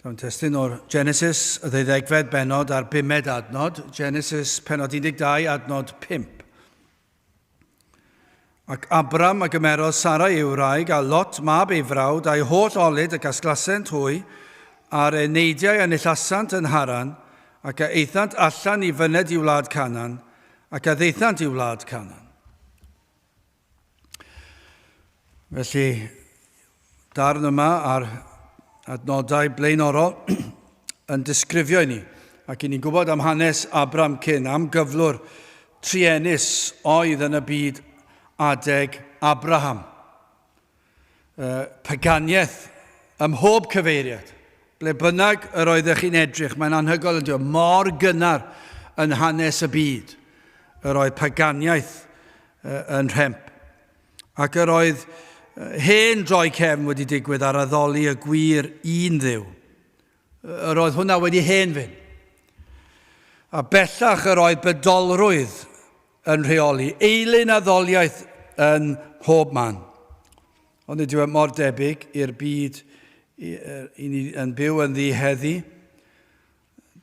Dawn testun o'r Genesis, y ddeuddegfed benod a'r bumed adnod, Genesis penod 12 adnod 5. Ac Abram a gymerodd Sarai ei wraig a Lot mab ei frawd a'i holl olyd y gasglasent hwy, a'r eneidiau a nillasant yn Haran, ac a eithant allan i fyned i wlad Canan, ac a ddeithant i wlad Canan. Felly, darn yma ar adnodau blaenorol yn disgrifio i ni, ac i ni'n gwybod am hanes Abram cyn, am gyflwr trienus oedd yn y byd adeg Abraham. y paganiaeth ym mhob cyfeiriad. Ble bynnag yr oeddech chi'n edrych, mae'n anhygoel ynddo, mor gynnar yn hanes y byd yr oedd paganiaeth yn rhemp. Ac yr oedd hen droi cefn wedi digwydd ar addoli y gwir un ddiw. Yr oedd hwnna wedi hen fyn. A bellach yr oedd bydolrwydd yn rheoli eilun a ddoliaeth yn mhob man. Ond nid yw e mor debyg i'r byd i ni yn byw yn ddi heddi.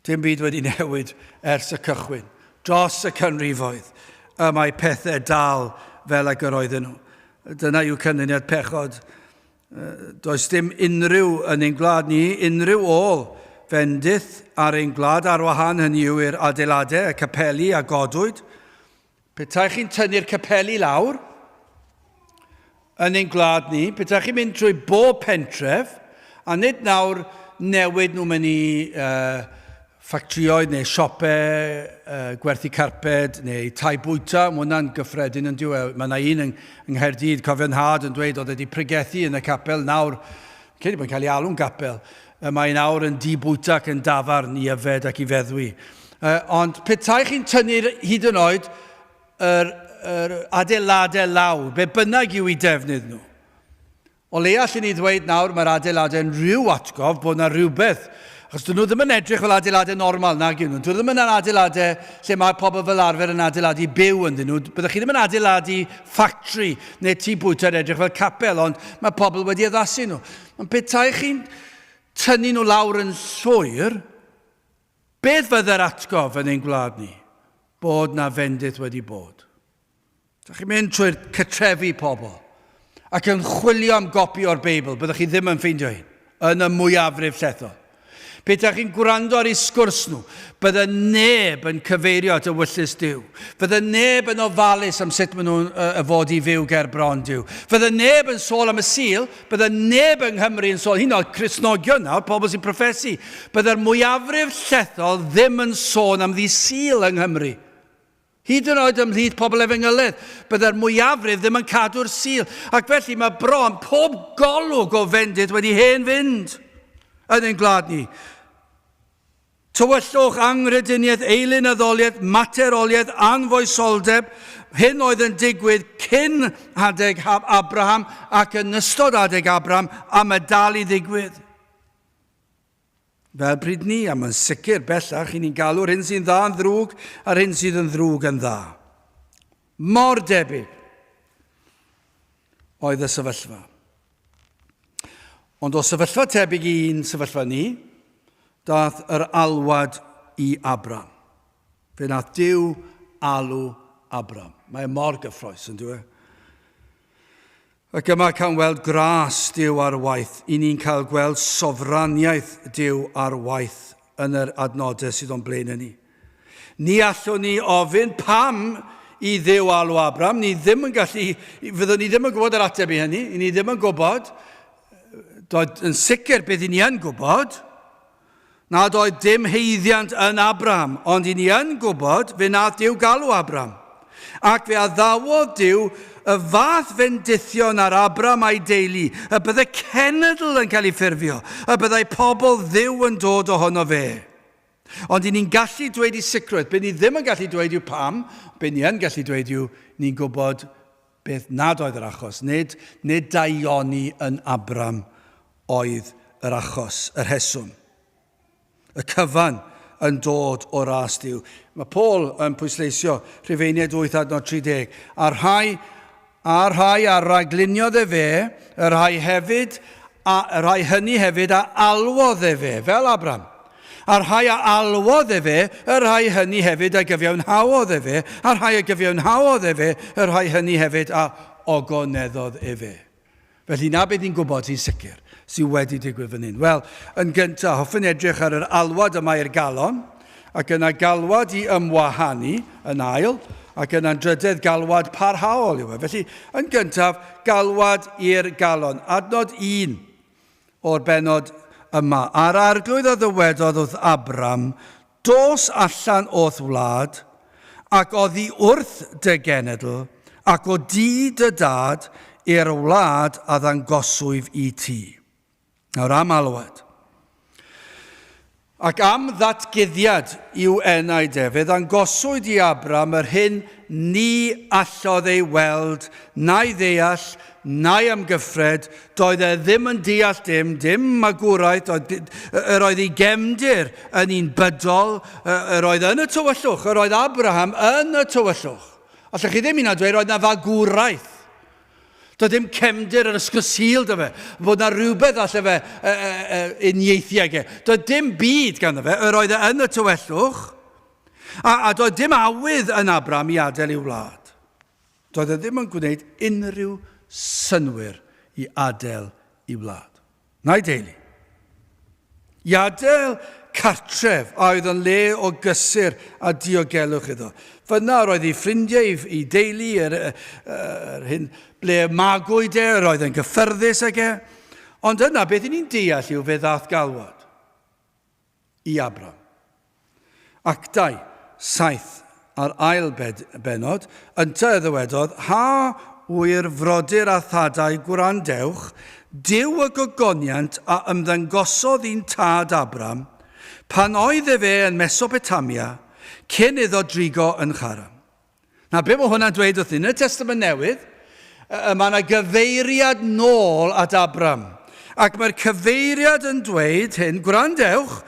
Dim byd wedi newid ers y cychwyn. Dros y canrifoedd, y mae pethau dal fel ag yr oedden nhw. Dyna yw canlyniad pechod Does dim unrhyw yn ein gwlad ni, unrhyw ôl fendith ar ein gwlad ar wahân, hynny yw i'r adeiladau, y capeli a godwyd. Petai chi'n tynnu'r capeli lawr yn ein gwlad ni, petai chi'n mynd trwy bob pentref, a nid nawr newid nhw mewn i uh, ffactrïoedd neu siopau gwerthu carped neu tai bwyta, mae hwnna'n gyffredin yn dyw e. Mae yna un yng Nghaerdydd, cofio nhad yn dweud oedd wedi pregethu yn y capel, nawr, credu bod yn cael ei alw'n gapel, mae'n awr yn di bwyta ac yn dafarn i yfed ac i feddwi. Ond petai chi'n tynnu'r hyd yn oed yr, yr adeiladau lawr, be bynnag yw i defnydd nhw, O leia allwn ni ddweud nawr mae'r adeiladau'n rhyw atgof bod yna rhywbeth, achos dyn nhw ddim yn edrych fel adeiladau normal nag yw nhw. Dyn nhw ddim yn adeiladau lle mae pobl fel arfer yn adeiladu byw ynddyn nhw. Byddwch chi ddim yn adeiladu ffactri neu tŷ bwyta yn edrych fel capel, ond mae pobl wedi addasu nhw. Ond petai chi'n tynnu nhw lawr yn llwyr, beth fydde'r atgof yn ein gwlad ni? Bod na fendith wedi bod. Dych chi'n mynd trwy'r cytrefi pobl ac yn chwilio am gopi o'r Beibl, byddwch chi ddim yn ffeindio hyn, yn y mwyafrif llethol. Pe ydych chi'n gwrando ar ei sgwrs nhw, bydde neb yn cyfeirio at y wyllus Dyw. Fydde neb yn ofalus am sut maen nhw'n uh, fod i fyw ger bron Dyw. Fydde neb yn sôl am y sil, bydde neb yng Nghymru yn sôl, hyn oed Cresnogion nawr, pobl sy'n profesu. Bydde'r mwyafrif llethol ddim yn sôn am ddi sil yng Nghymru. Hyd yn oed ymhlith pobl efengyledd, byddai'r mwyafrif ddim yn cadw'r Sul, ac felly mae bron pob golwg o fendith wedi hen fynd yn ein gwlad ni. Tywyllwch, anghrediniaeth, eilynyddoliaeth, materoliaeth, anfoesoldeb, hyn oedd yn digwydd cyn adeg Abraham ac yn ystod adeg Abraham, a mae dal i ddigwydd. Fel pryd ni, a mae'n sicr, bellach, i ni'n galw'r hyn sy'n dda yn ddrwg a'r hyn sydd yn ddrwg yn dda. Mor debyg oedd y sefyllfa. Ond o sefyllfa tebyg i un sefyllfa ni, dath yr alwad i Abram. Fe nath Dyw alw Abram. Mae e mor gyffroes, yn dwi e? Ac yma cawn weld gras Dyw ar waith, i ni'n cael gweld sofraniaeth Dyw ar waith yn yr adnodau sydd o'n blaen yn ni. Ni allwn ni ofyn pam i Ddyw alw Abram, ni ddim yn gallu, fyddwn ni ddim yn gwybod yr ateb i hynny, i ni ddim yn gwybod, doedd yn sicr beth i ni yn gwybod, nad oedd dim haeddiant yn Abram, ond i ni yn gwybod fe nath Dyw galw Abram. Ac fe addawodd Dyw y fath fendithion ar Abram a'i deulu, y bydde cenedl yn cael ei ffurfio, y byddai pobl Dduw yn dod ohono fe. Ond i ni'n gallu dweud i sicrwydd, be ni ddim yn gallu dweud yw pam, be ni yn gallu dweud yw ni'n gwybod Beth nad oedd yr achos. Nid, nid daioni yn Abram oedd yr achos, y rheswm. Y cyfan yn dod o ras Duw. Mae Paul yn pwysleisio, Rhufeiniaid 8 adnod 30, a rhai, a rhai a ragliniodd e fe, y rhai hefyd, a, y rhai hynny hefyd a alwodd e fe, fel Abram, a rhai a alwodd efe, y rhai hynny hefyd a gyfiawnhaodd efe, a rhai a gyfiawnhaodd efe, y rhai hynny hefyd a ogoneddodd efe. Felly, na beth ni'n gwybod sy'n sicr sydd wedi digwydd fan hyn. Wel, yn gyntaf, hoffwn edrych ar yr alwad yma i'r galon, ac yna galwad i ymwahanu yn ail, ac yna'n drydedd galwad parhaol yw e. Felly, yn gyntaf, galwad i'r galon. Adnod 1. o'r bennod yma, a'r Arglwydd a ddywedodd wrth Abram, Dos allan o'th wlad, ac oddi wrth dy genedl, ac o du dy dad, i'r wlad a ddangoswyf i ti. Nawr am alwad. Ac am ddatguddiad i'w enaid ef, fe ddangoswyd i Abram yr hyn ni allodd ei weld, na'i ddeall, na'i amgyffred, doedd e ddim yn deall dim, dim magwraeth, doedd, yr oedd ei gefndir yn un bydol, yr oedd yn y tywyllwch, yr oedd Abraham yn y tywyllwch. Allwch chi ddim hyn a dweud, yr oedd na fagwraeth Doedd dim cefndir yr Ysgol Sul da fe, bod na rhywbeth alle fe uh, uh, uh, uniaethu ag e. Doedd dim byd ganddo fe, yr oedd e yn y tywellwch, a, a doedd dim awydd yn Abram i adael ei wlad. Doedd e ddim yn gwneud unrhyw synwyr i adael ei wlad. na'i deulu. I adael cartref a oedd yn le o gysur a diogelwch iddo. Fyna yr oedd ei ffrindiau, ei, ei deulu, yr, yr hyn ble magwyd e, yr oedd yn gyffyrddus ag e. Ond yna, beth i ni'n deall yw fe ddath galwad. i Abram. Actau, saith, a'r ail bed, bennod, ynte y ddywedodd, Ha ŵyr frodyr a thadau gwrandewch, Duw y gogoniant a ymddangosodd i'n tad Abram, pan oedd efe yn Mesopotamia, cyn iddo drigo yn Charan. Na, be mae hwnna'n dweud wrth ni? Yn y Testament Newydd, mae yna gyfeiriad nôl at Abram. Ac mae'r cyfeiriad yn dweud hyn, gwrandewch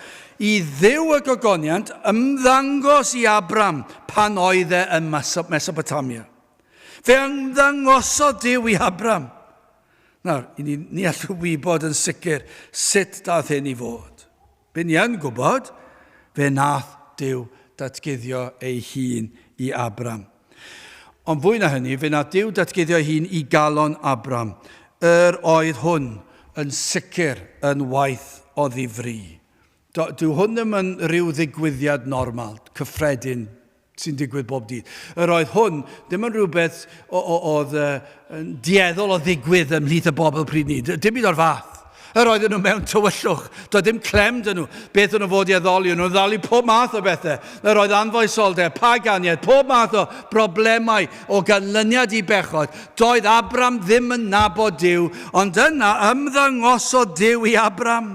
i ddiw y gogoniant ymddangos i Abram pan oedd e yn Mesopotamia. Fe ymddangosodd diw i Abram. Nawr, ni, ni allwn wybod yn sicr sut dath hyn i fod. Byn ni yn gwybod, fe wnaeth Duw datguddio ei hun i Abram. Ond fwy na hynny, fe wnaeth Duw datguddio ei hun i galon Abram. Yr oedd hwn yn sicr yn waith o ddifri. Do, dyw hwn ddim yn rhyw ddigwyddiad normal, cyffredin, sy'n digwydd bob dydd. Yr oedd hwn ddim yn rhywbeth oedd yn dieddol o ddigwydd ymhlith y bobl pryd ni. Dim byd o'r fath. Yr oedden nhw mewn tywyllwch. Doedd ddim clem dyn nhw. Beth o'n nhw fod i addoli? O'n nhw'n ddalu pob math o bethau. Yr oedd anfoesoldeb, paganiaeth, pob math o broblemau o ganlyniad i bechod. Doedd Abram ddim yn nabod Dyw, ond yna ymddangosodd Dyw i Abram.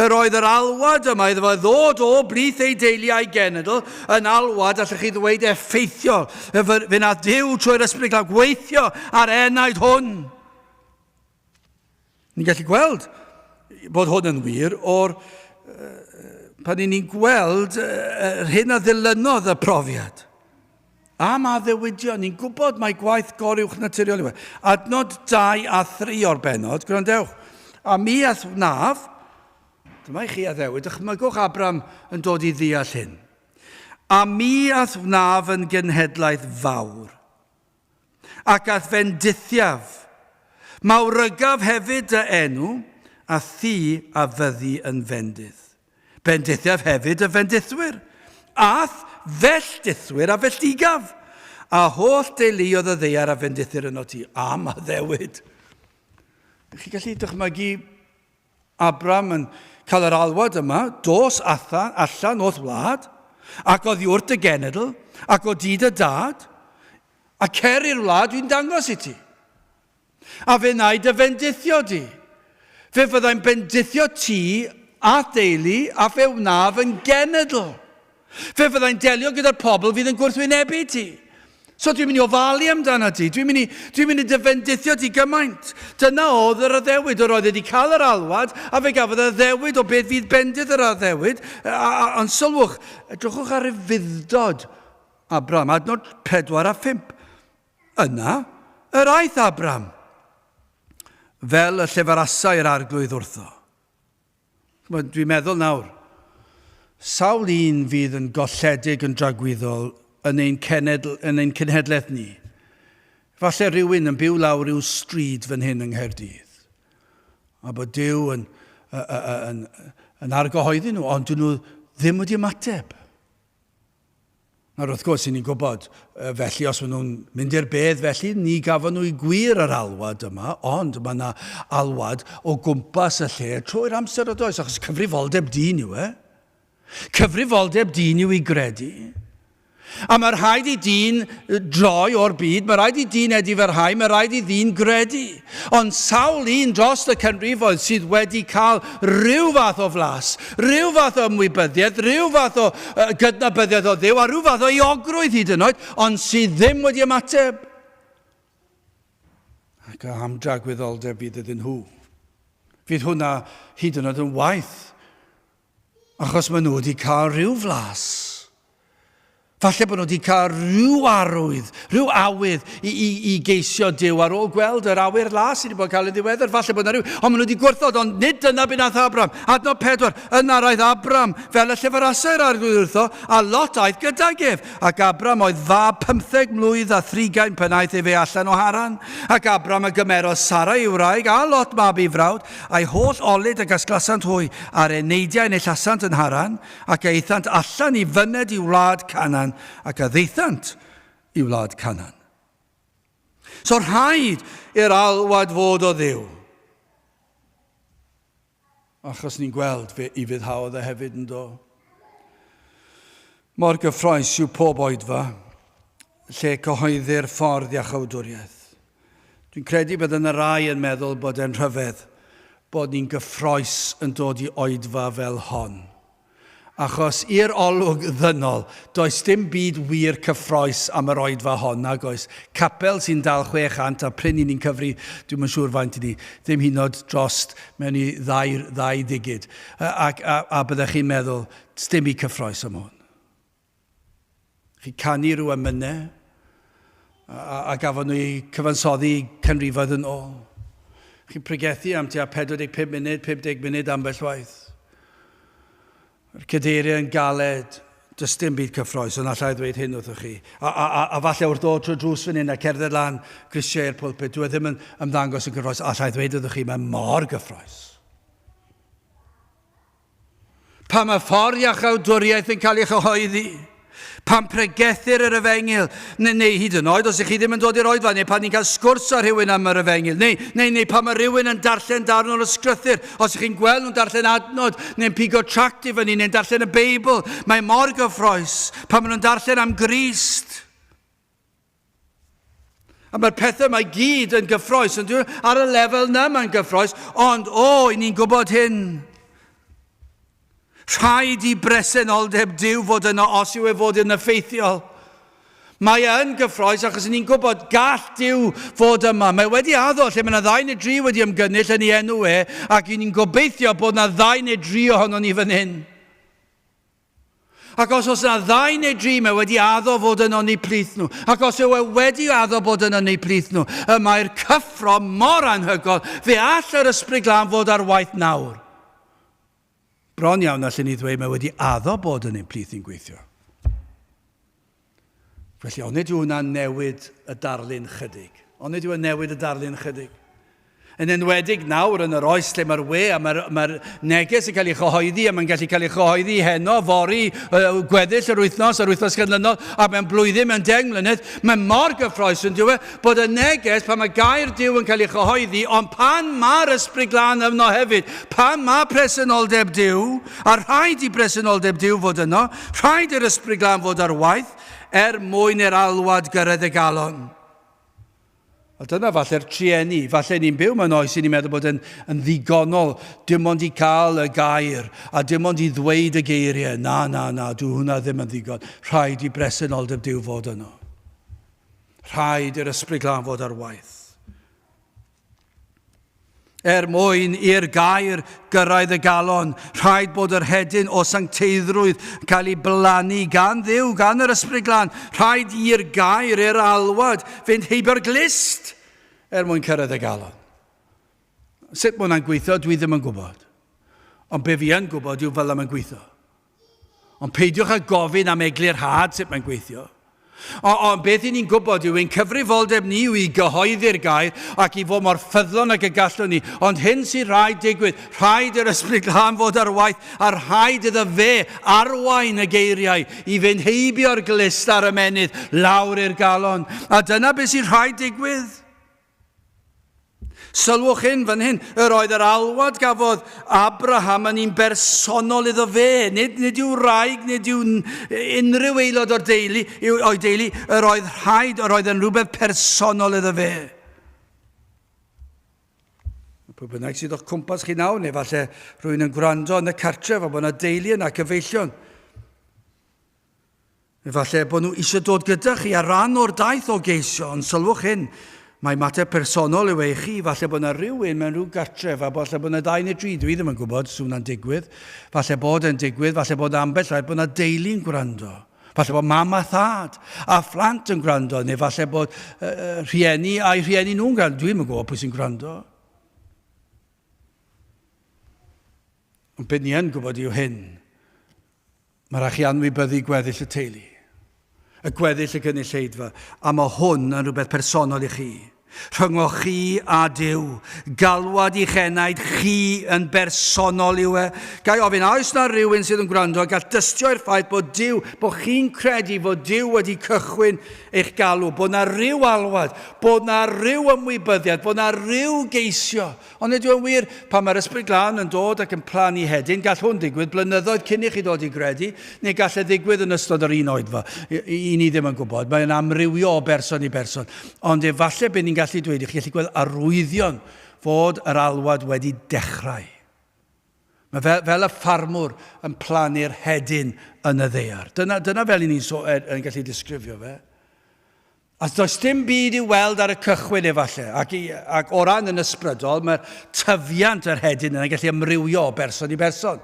Yr oedd yr alwad yma iddo fo ddod o blith ei deulu a'i genedl yn alwad, allech chi ddweud, effeithiol. Fe nath Dyw trwy'r Ysbryd Glaf gweithio ar enaid hwn. Ni'n gallu gweld bod hwn yn wir o'r pan ni'n gweld yr hyn a ddilynodd y profiad. Am addewidion, ni'n gwybod mai gwaith goruwch naturiol yw e. Adnod 2 a 3 o'r bennod, gwrandewch, a mi all wnaf, dyma i chi addewid, dychmygwch Abram yn dod i ddeall hyn. A mi all wnaf yn genhedlaeth fawr, ac all fe'n dithiaf, mawrygaf hefyd dy enw, a thi a fyddi yn fendith. Bendithiaf hefyd y fendithwyr, a'th felltithwyr a felltigaf, a holl deuluodd y ddeiar a fendithir yno ti. Am addewid! Ych chi gallu dychmygu Abram yn cael yr alwad yma, dos athan, allan o'th wlad, ac o ddiwrt y genedl, ac o dyd y dad, a cer i'r wlad dwi'n dangos i ti. A fe wnaed dy fendithio di. Fe fyddai'n bendithio ti a theulu a fe wnaf yn genedl. Fe fyddai'n delio gyda'r pobl fydd yn gwrthwynebu ti. So dwi'n mynd i ofalu amdano ti, dwi'n mynd i, dwi'n mynd i dyfendithio ti gymaint. Dyna oedd yr addewid, yr oedd wedi cael yr alwad, a fe gafodd yr addewid o beth fydd bendith yr addewid. Ond sylwch, edrychwch ar ei fuddod, Abraham, adnod 4 a 5. Yna yr aeth Abram, fel y llefarasai'r Arglwydd wrtho. Ch'mod, dwi'n meddwl nawr, sawl un fydd yn golledig yn dragwyddol yn ein cenedl, yn ein cenhedlaeth ni? Falle rhywun yn byw lawr ryw stryd fan hyn yng Nghaerdydd, a bod Duw yn, yn, yn, yn argyhoeddi nhw, ond dyn nhw ddim wedi ymateb. Nawr, wrth gwrs, 'yn ni'n gwybod, felly, os maen nhw'n mynd i'r bedd, felly, ni gafon nhw i gwir yr alwad yma, ond mae yna alwad o gwmpas y lle trwy'r amser o does, achos cyfrifoldeb dyn yw e. Cyfrifoldeb dyn yw i gredu. A mae rhaid i dyn droi o'r byd, mae rhaid i dyn edifarhau, mae rhaid i ddyn gredu. Ond sawl un dros y canrifoedd sydd wedi cael rhyw fath o flas, rhyw fath o ymwybyddiaeth, rhyw fath o gydnabyddiaeth o Dduw a rhyw fath o euogrwydd hyd yn oed, ond sydd ddim wedi ymateb? Ac a am dragwyddoldeb fydd iddyn nhw? Fydd hwnna hyd yn oed yn waith Achos maen nhw wedi cael rhyw flas. Falle bod nhw wedi cael rhyw arwydd, rhyw awydd i, i, i geisio Dyw ar ôl gweld yr awyr las sydd wedi bod yn cael ei ddiweddar. Falle bod yna rhyw, ond maen nhw wedi gwrthod, ond nid dyna beth nath Abram. Adnod pedwar, yna roedd Abram fel y llyfrasau yr arglwydd wrtho, a Lot aeth gydag ef. Ac Abram oedd fab pymtheg mlwydd a thrigain pan aeth ef e allan o Haran. Ac Abram a gymerodd Sara ei wraig, a Lot mab ei frawd, A'i holl olud a gasglasant hwy, a'r eneidiau yn eu llasant yn Haran, ac a aethant allan i fyned i wlad Canan, ac a ddaethant i wlad Canan. So rhaid i'r alwad fod o dduw. Achos ni'n gweld fe i fyddhaodd e hefyd yn do. Mor gyffroes yw pob oedfa lle cyhoeddir ffordd iachawdwriaeth. Dwi'n credu bod yna rai yn meddwl bod e'n rhyfedd bod ni'n gyffroes yn dod i oedfa fel hon. Achos i'r olwg ddynol, does dim byd wir cyffroes am yr oedfa hon, nag oes? Capel sy'n dal 600 a prin i ni'n cyfri, dwi'm yn siŵr faint i ni, ddim hyd yn oed drost mewn i ddau, ddau ddigid. Ac a, a byddech chi'n meddwl, sdim byd cyffroes am hwn. Chi canu rhyw emynau, a, a gafon nhw eu cyfansoddi canrifoedd yn ôl. Chi'n pregethu am tua 45 munud, 50 munud ambell waith. Yr cadeiriau yn galed, does dim byd cyffroes, ond allai ddweud hyn wrthoch chi. A, a, a, a falle wrth ddod trwy'r drws fan hyn a cerdded lan grisiau i'r pulpud, dwi e ddim yn ymddangos yn gyffroes, allai ddweud wrthoch chi, mae mor gyffroes. Pan mae ffordd iachawdwriaeth yn cael ei chyhoeddi, pan pregethir yr efengyl, neu, neu hyd yn oed os ych chi ddim yn dod i'r oedfa, neu pan ni'n cael sgwrs â rhywun am yr efengyl, neu, neu, neu pan mae rhywun yn darllen darn o'r ysgrythyr, os ych chi'n gweld nhw'n darllen adnod, neu'n pigo tract i fyny, neu'n darllen y Beibl, mae mor gyffroes pan maen nhw'n darllen am Grist. A mae'r pethau mae gyd yn gyffroes, yn dweud, ar y lefel na mae'n gyffroes, ond o, oh, i ni'n gwybod hyn. Rhaid i bresenoldeb Dyw fod yno os yw e fod yn effeithiol. Mae e yn gyffroes achos ni'n gwybod gall Dyw fod yma. Mae wedi addo lle mae yna ddau neu dri wedi ymgynnull yn ei enw e ac ni'n gobeithio bod yna ddau neu dri ohono ni fan hyn. Ac os oes yna ddau neu dri, mae wedi addo fod yn ynni plith nhw. Ac os yw e wedi addo bod yn ynni plith nhw, y mae'r cyffro mor anhygoel, fe all yr ysbryd glân fod ar waith nawr. Bron iawn allwn ni ddweud mae wedi addo bod yn ein plith ni'n gweithio. Felly, onid yw hwnna'n newid y darlun chydig? Onid yw e'n newid y darlun chydig? Yn enwedig nawr yn yr oes lle mae'r we a mae'r ma neges yn cael ei chyhoeddi a mae'n gallu cael ei chyhoeddi heno, fori, gweddill yr wythnos, yr wythnos canlynol, a mae'n blwyddyn, mae'n deng mlynedd, mae mor gyffroes yn diwe bod y neges pan mae gair diw yn cael ei chyhoeddi, ond pan mae'r ysbryd glân yno hefyd, pan mae presenoldeb diw, A rhaid i bresenoldeb Duw fod yno, rhaid i'r Ysbryd Glân fod ar waith, er mwyn i'r alwad gyrraedd y galon. A dyna falle'r trueni, falle ni'n byw mewn oes i ni'n meddwl bod yn, yn ddigonol, dim ond i cael y gair, a dim ond i ddweud y geiriau. Na, na, na, dwi hwnna ddim yn ddigon. Rhaid i bresenoldeb Duw fod yno. Rhaid i'r Ysbryd Glân fod ar waith. Er mwyn i'r gair gyrraedd y galon, rhaid bod yr hedyn o sancteiddrwydd yn cael ei blannu gan ddiw, gan yr ysbryd glân. Rhaid i'r gair, er alwad, fynd heibio'r glist er mwyn cyrraedd y galon. Sut mae hwnna'n gweithio, dwi ddim yn gwybod. Ond be fi yn gwybod yw fel yma'n gweithio. Ond peidiwch â gofyn am eglurhad sut mae'n gweithio. O, ond beth i ni'n gwybod yw ein cyfrifoldeb ni yw i gyhoeddi'r gair ac i fod mor ffyddlon ag y gallwn ni. Ond hyn sy'n rhaid digwydd, rhaid yr ysbryd glân fod ar waith a rhaid iddo fe arwain y geiriau i fynd heibio'r glust a'r ymennydd lawr i'r galon. A dyna beth sy'n rhaid digwydd. Sylwch hyn fan hyn, yr oedd yr alwad gafodd Abraham yn un bersonol iddo fe, nid, nid yw wraig, nid yw unrhyw aelod o'r deulu, yw, o'i deulu, yr oedd rhaid, yr oedd yn rhywbeth personol iddo fe. Pwy bynnag sydd o'ch cwmpas chi nawr, neu falle rwy'n yn gwrando yn y cartref a bod yna deulu yna, cyfeillion, Efallai bod nhw eisiau dod gyda chi ar ran o'r daith o geisio, ond sylwch hyn, mae mater personol yw ei chi, falle bod yna rhywun mewn rhyw gartref, a falle bod yna dau neu dri, dwi ddim yn gwybod, sy'n hwnna'n digwydd, falle bod e'n digwydd, falle bod yna ambell rhaid bod yna deulu'n gwrando. Falle bod mam a thad a phlant yn gwrando, neu falle bod uh, rhieni a'i rhieni nhw'n gwrando. Dwi ddim yn gwybod pwy sy'n gwrando. Ond beth ni yn gwybod yw hyn. Mae rhaid chi anwybyddu gweddill y teulu, y gweddill y gynulleidfa, a mae hwn yn rhywbeth personol i chi, rhyngoch chi a Duw. Galwad i'ch enaid chi yn bersonol yw e. Gai ofyn, a oes na rywun sydd yn gwrando a gall dystio i'r ffaith bod Duw, bod chi'n credu fod Duw wedi cychwyn eich galw, bod na ryw alwad, bod na ryw ymwybyddiad, bod na ryw geisio Ond ydyw e'n wir, pan mae'r Ysbryd Glân yn dod ac yn plannu hedyn, gall hwn ddigwydd blynyddoedd cyn i chi ddod i gredu, neu gall e ddigwydd yn ystod yr un oedfa? I ni ddim yn gwybod, mae'n amrywio o berson i berson. Ond efallai bydd ni'n gallu dweud i chi, gallu gweld arwyddion fod yr alwad wedi dechrau. Mae fel, fel y ffarmwr yn plannu'r hedyn yn y ddear. Dyna, dyna fel i ni'n so, yn gallu disgrifio fe. Os does dim byd i'w weld ar y cychwyn efallai, ac, ac o ran yn ysbrydol, mae'r tyfiant yr hedyn yna'n gallu amrywio o berson i berson.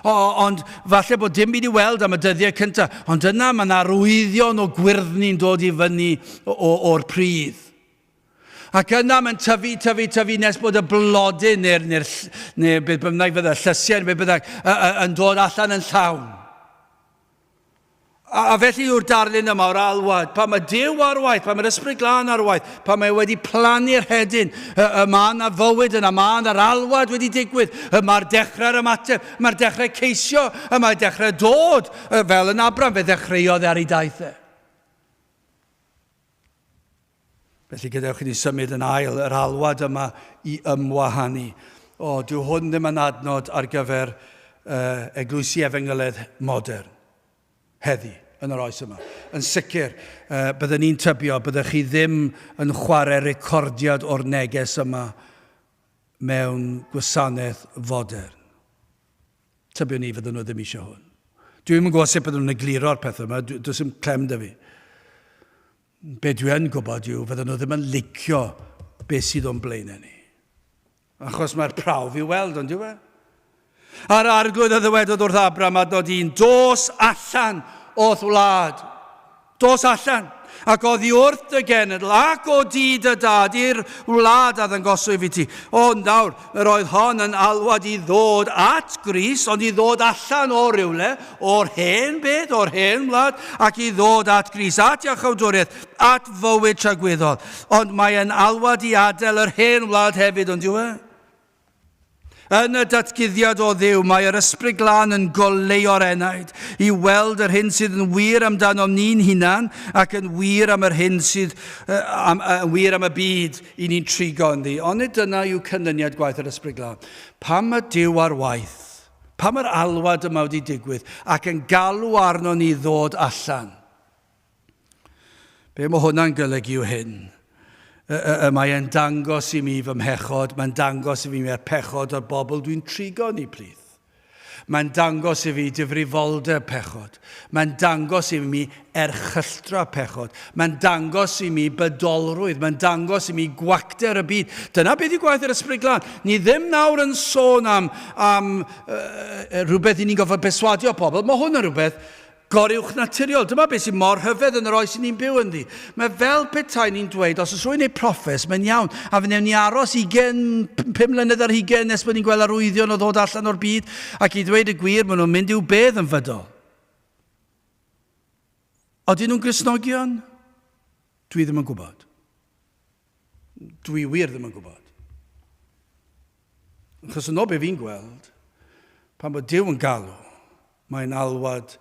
O, ond falle bod dim byd i weld am y dyddiau cyntaf, ond yna mae'n arwyddion o gwyrddni'n dod i fyny o'r pridd. Ac yna mae'n tyfu, tyfu, tyfu nes bod y blodyn neu'r, neu, neu beth bynnag fydda, llysiau neu beth bynnag, yn dod allan yn llawn. A, a felly yw'r darlun yma o'r alwad, pan mae Dyw ar waith, pan mae'r Ysbryd Glân ar waith, pan mae wedi plannu'r hedyn, y, y mae yna fywyd yna, mae yna'r alwad wedi digwydd, y mae'r dechrau'r ymateb, mae'r dechrau ceisio, y mae dechrau dod, y, fel yn Abram, fe ddechreuodd e ar ei daith e. Felly gadewch i ni symud yn ail yr alwad yma i ymwahanu. O, dyw hwn ddim yn adnod ar gyfer uh, eglwysi efengyledd modern. Heddi, yn yr oes yma. Yn sicr, uh, byddwn ni'n tybio, byddwch chi ddim yn chwarae recordiad o'r neges yma mewn gwasanaeth fodern. Tybiwn ni fydden nhw ddim eisiau hwn. Dwi'n yn gwybod sut byddwn nhw'n egluro'r pethau yma, does dim clem dy fi. Be dwi yn gwybod yw fyddan nhw ddim yn licio be sydd o'n blaenau ni. Achos mae'r prawf i'w weld, ond yw e? A'r arglwydd a ddywedodd wrth Abram a dod i'n dos allan o'th wlad. Dos allan, ac oddi wrth dy genedl, ac o dŷ dy dad i'r wlad a ddangoswyf i ti. Ond nawr, Yr oedd hon yn alwad i ddod at Grist, ond i ddod allan o rywle, o'r hen byd, o'r hen wlad, ac i ddod at Grist, at iachawdwriaeth, at fywyd tragwyddol. Ond mae yn alwad i adael yr hen wlad hefyd, ond yw e? Yn y datguddiad o dduw, mae yr ysbryd glân yn goleuo'r enaid, i weld yr hyn sydd yn wir amdanom ni'n hunan ac yn wir am yr hyn sydd uh, am, uh, wir am y byd. I ni'n trigo ynddi, ond nid dyna yw canlyniad gwaith yr Ysbryd Glân. Pam mae Duw ar waith? Pam mae'r alwad yma wedi digwydd ac yn galw arno ni ddod allan? Be mae hwnna'n golygu yw hyn. Y, y, y mae e'n dangos i mi fy mhechod, mae'n dangos i mi mae'r pechod o'r bobl dwi'n trigo ni plith. Mae'n dangos i fi difrifoldeb pechod. Mae'n dangos i mi erchylltra pechod. Mae'n dangos i mi bydolrwydd. Mae'n dangos i mi gwacter y byd. Dyna beth yw gwaith yr Ysbryd Glân. Ni ddim nawr yn sôn am, am uh, rhywbeth i ni'n gofod perswadio pobl. Mae hwn yn rhywbeth goruwchnaturiol. Dyma beth sydd mor rhyfedd yn yr oes i ni'n byw ynddi. Mae fel petai ni'n dweud, os oes rwy'n ei proffes, mae'n iawn, a fe wnewn ni aros ugain, pum mlynedd ar hugain nes bod ni'n gweld arwyddion o ddod allan o'r byd, ac i ddweud y gwir, maen nhw'n mynd i'w bedd yn fydol. Odyn nhw'n Gristnogion? Dwi ddim yn gwybod. Dwi wir ddim yn gwybod. Achos yn ôl be fi'n gweld, pan bod Duw yn galw, mae'n alwad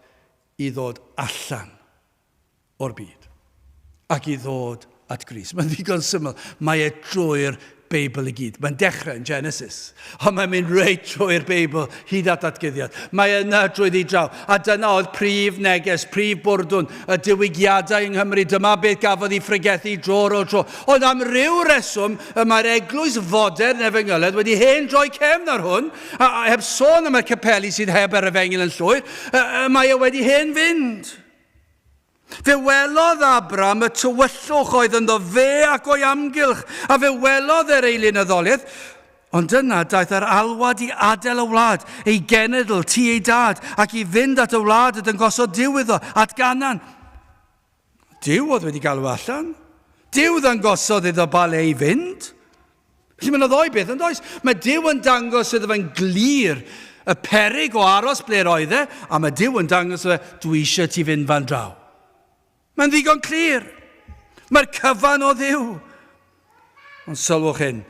i ddod allan o'r byd ac i ddod at Gris. Mae'n ddigon syml. Mae e drwy'r Beibl i gyd. Mae'n dechrau yn Genesis. Ond mae'n mynd reit trwy'r Beibl, hyd at ddatguddiad. Mae yna drwyddi draw. A dyna oedd prif neges, prif bwrdwn y diwygiadau yng Nghymru. Dyma beth gafodd ei phregethu dro ar ôl tro. Ond am ryw reswm, y mae'r eglwys fodern efengyledd wedi hen droi cefn ar hwn, a, a heb sôn am y capeli sydd heb yr efengyl yn llwyr, y, y mae e wedi hen fynd. Fe welodd Abram y tywyllwch oedd ynddo fe ac o'i amgylch, a fe welodd yr eilynyddoliaeth, ond yna daeth yr alwad i adael y wlad, ei genedl, ti ei dad, ac i fynd at y wlad y dyngosodd Dyw iddo, at Ganan. Dyw oedd wedi galw allan. Dyw ddangosodd iddo ba le i fynd. Felly mae yna ddoi beth yn does. Mae Dyw yn dangos iddo fe'n glir y perig o aros ble roedd e, a mae Dyw yn dangos fe, dwi eisiau ti fynd fan draw. Mae'n ddigon clir. Mae'r cyfan o ddiw. Ond sylwch hyn,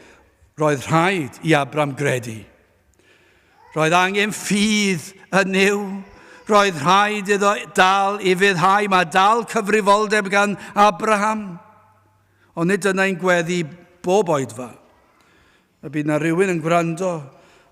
roedd rhaid i Abram gredu. Roedd angen ffydd yn niw. Roedd rhaid iddo dal i fyddhau. Mae dal cyfrifoldeb gan Abraham. Ond nid dyna ein gweddi bob oedfa. Y bydd na rywun yn gwrando